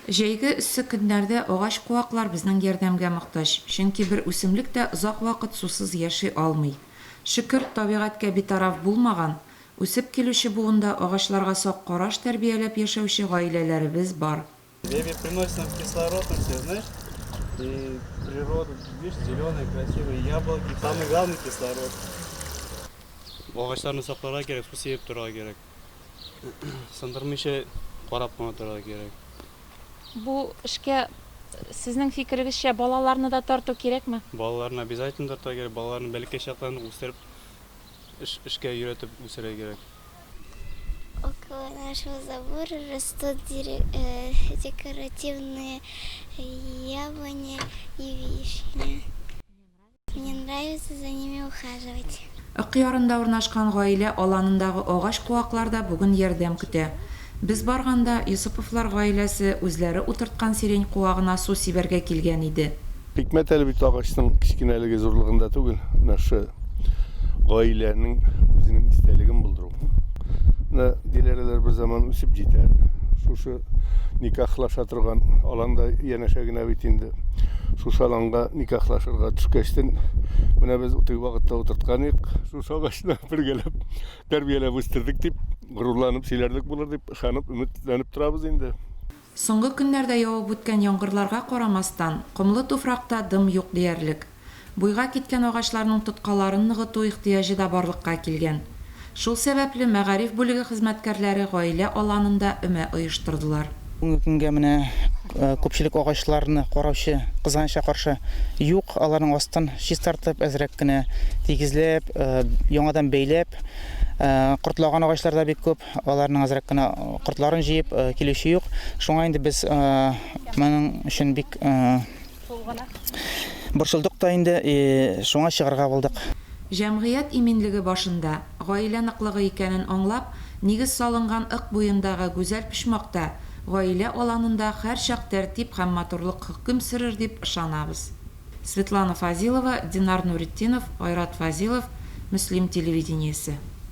Җәйге эссе көннәрдә агач-куаклар безнең ярдәмгә мохтаҗ, чөнки бер үсемлек тә озак вакыт сусыз яши алмый. Шөкер, табигатькә битараф булмаган, үсеп килүче буында агачларга сак караш тәрбияләп яшәүче гаиләләребез бар. Деревья приносят нам кислород, ну все знаешь, и природа, видишь, зеленые, красивые яблоки, самый главный кислород. Агачларны сакларга кирәк, су сибеп торырга кирәк. Сындырмыйча карап кына торырга кирәк. Бу эшкә сезнең фикерегезчә балаларны да тарту кирәкме? Балаларны обязательно тартырга кирәк. Балаларны бәләкәй чактан үстереп, эш, эшкә өйрәтеп үстерергә кирәк. Около нашего забора растут декоративные яблони и вишни. Мне нравится за ними ухаживать. Ык ярында урнашкан гаилә аланындагы агач куаклар да бүген ярдәм көтә. Без барганда, Йосыповлар гаиләсе үзләре утырткан сирень куагына су сибәргә килгән иде. Хикмәт әле бит агачның кечкенәлеге зурлыгында түгел, менә шы гаиләнең үзенең истәлеген булдыру. Менә диләрәләр берзаман үсеп җитәр, шушы никахлаша торган аланда янәшә генә бит инде шушы аланга никахлашырга төшкәчтен менә без утый вакытта утырткан идек шушы агачны бергәләп тәрбияләп үстердек дип горурланып сөйләрлек булыр дип ышанып өметләнеп торабыз инде Соңгы көннәрдә явып үткән яңгырларга карамастан, комлы туфракта дым юк диярлек. Буйга киткән агачларның тоткаларын ныгыту ихтыяҗы да барлыкка килгән. Шул сәбәпле, мәгариф бүлеге хезмәткәрләре гаилә аланында өмә оештырдылар. Бүгенге көнгә менә күпчелек агачларны караучы, кызганычка каршы, юк. Аларның астын чистартып, әзрәк кенә тигезләп, яңадан бәйләп, кортлаган агачлар да бик күп, аларның әзрәк кенә кортларын җыеп, килүче юк. Шуңа инде без моның өчен бик. Борчылдык та инде, шуңа чыгарга булдык. Җәмгыять иминлеге башында, гаилә ныклыгы икәнен аңлап, нигез салынган Ык буендагы гүзәл почмакта, гаилә аланында һәрчак тәртип һәм матурлык хөкем сөрер дип ышанабыз. Светлана Фазилова, Динар Нуретдинов, Айрат Фазилов, Мөслим телевидениесе.